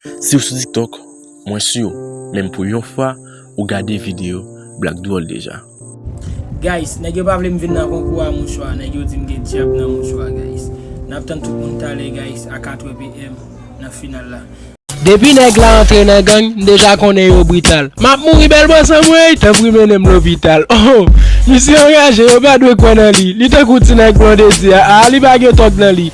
Siw sou tiktok mwen siw menm pou yon fwa ou gade video black dwol deja. Guys nèg yo pa vlem vin nan konkou a mouchwa nèg yo dim gen dyab nan mouchwa guys nap tann tout moun talè guys a 4 PM nan final la. Depi nèg la antre nan gang m deja konnen yo brital map mouri bèl bòs anmweyy tanpri mennenm lopital oh misye anraje yo pa dwe kwè nan li li tankou ti nèg blondedy a ah li pa gen tòg nan li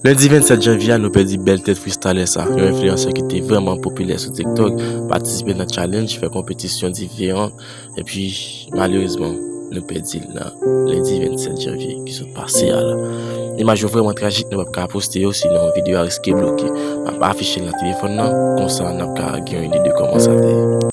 Lendi 27 janvye a nou pèdi bèl tèt fristalè sa, yon enfliyansè ki te vrèman popilè sou TikTok, patisipe nan challenge, fè konpetisyon diferan, epi malerezman nou pèdi l nan lendi 27 janvye ki sot pase a la. Imaj yo vrèman trajik nou pap ka poste yo sinon videyo a riske bloke. Map afiche l nan telefòn nan, konsa nap ka gen yon ide de kòman sa te ye.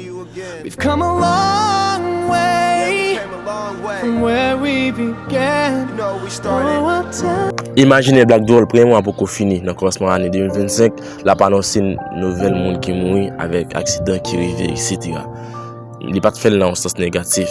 We've come a long way from where we began Oh I'll tell you. Imajinè Black Doll premye mwa poko fini nan kòmansman ane 2025 la ap anonse n nouvèl moun ki mouri avèk aksidan ki rive etc. Li pat fè l nan yon sans negatif.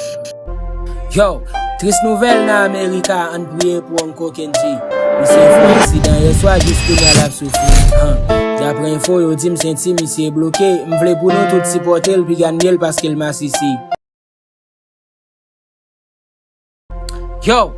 Yow, tris nouvèl nan Amerika ann priye pou Uncle Kendji. Misye fè yon aksidan yèswa jis kounya lap soufri anhh. Daprè enfo yo dim senti misye bloke, m vle pou nou tout sipòte l piga nil paske l masisi. Yow!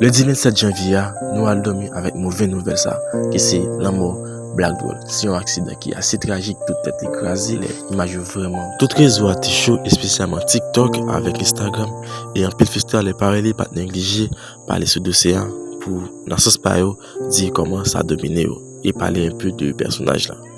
Ledi 27 janvye a, nou al dòmi avèk move nouvèl sa ki se lanmò Black Doll. Se yon aksidan ki ase trajik, tout tèt li kraze lè imaj yo vrèman. Tout rezo a te cho espesyalman TikTok avèk Instagram e anpil festa lè parèy li pat neglije pale sou dosye a pou nan sans pa yo di kòman sa domine yo e pale enpe de pèsonaj la.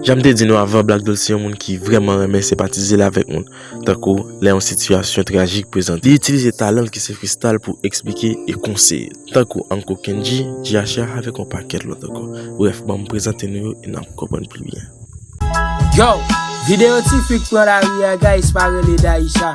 Jan m te di nou avan Black Dol se yon moun ki vrèman renmen senpatize l avèk moun tankou lè yon sitiyasyon trajik prezante. Li itilize talan l ki se fristal pou eksplike e konseye. Tankou Anko Kendji, Dyacha avèk yon pakèt lòt ankò. Brèf ban m prezante nou yo e n ap konprann pi byen. Yow! Video Ti fi k pran lari a guys pa rele Daïsha.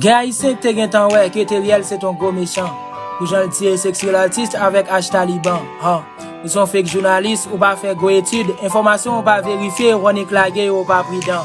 Gen ayisyen k te gentan wè ke Theriel se t yon gwo mechan pou jan l tiye sexual artist avèk Ash Taliban huh ou se yon fake jounalis ou pa fè gwo etid enfòmasyon w pa verifye Rony k lage yo ou pa pridan.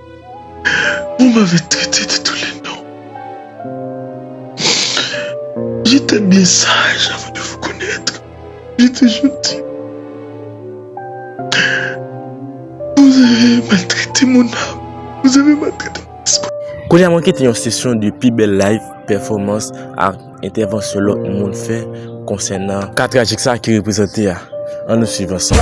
Vous m'avez traité de tous les noms. J'étais bien sage avant de vous connaître. J'étais gentil. Vous avez maltraité mon âme. Vous avez maltraité mon esprit. Konya mwen kite yon sesyon de pi bèl live, pèfòmans ak entèvansyon lòt moun fè konsènan ka trajik sa ki reprezante a. An nou swiv ansanm.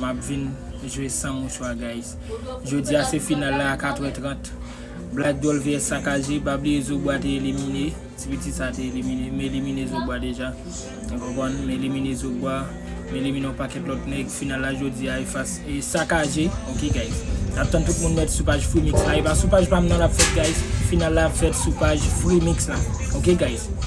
Map vin jwe san mouchwa guys. Jodia se final la a 4 è 30. Black doll vs sakaje. Pa bliye zobwa te elimine. Ti pitit sa te elimine. M elimine zobwa deja. Ou konprann? M elimine zobwa. M elimine yon pakèt lòt nèg. Final la jodia e fas e sakaje. Ok guys. Nap tann tout moun mèt sou paj freemix la. E pa sou paj pam nan lap fèt guys. Final la ap fèt sou paj freemix la. Ok guys.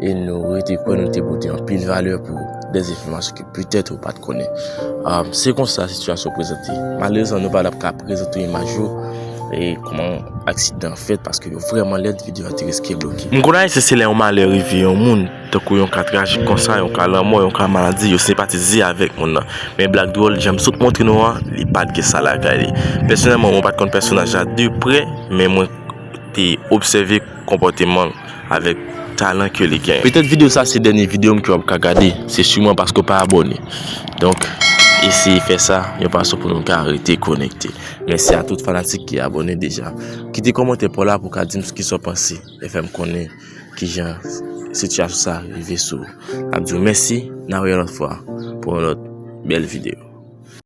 e nou rete kwè nou te pote anpil valè pou de enfòmasyon ke petèt ou pat konnen. Se konsa sitiyasyon yo prezante. Malerezman nou pa tap ka prezante w imaj yo e kòman aksidan an fèt paske yo vrèman lèd videyo a te riske bloke. M konn ayisyen se lè yon malè rive yon moun tankou yon ka trajik konsa yon ka lanmò yon ka maladi yo senpatize avèk moun nan men blag dwòl jan m sot montre nou an li pat gen sa lakay li. Pèsonèlman mwen pat konn pèsonaj la de prè men mwen e obsève konpòteman l avèk talan ke li genyen. Petèt videyo sa se dènye videyo m ke w ap ka gade, se siman paske w pa abòne. Donk, eseye fè sa yon fason pou nou ka rete konekte. Mèsi a tout fanatik ki abòne deja. Kite kòmantè pa w la pou w ka di m s kisa w panse e fè m konnen kijan sitiyasyon sa rive sou ou. N ap di w mèsi, n ap wè yon lòt fwa pou yon lòt bèl videyo.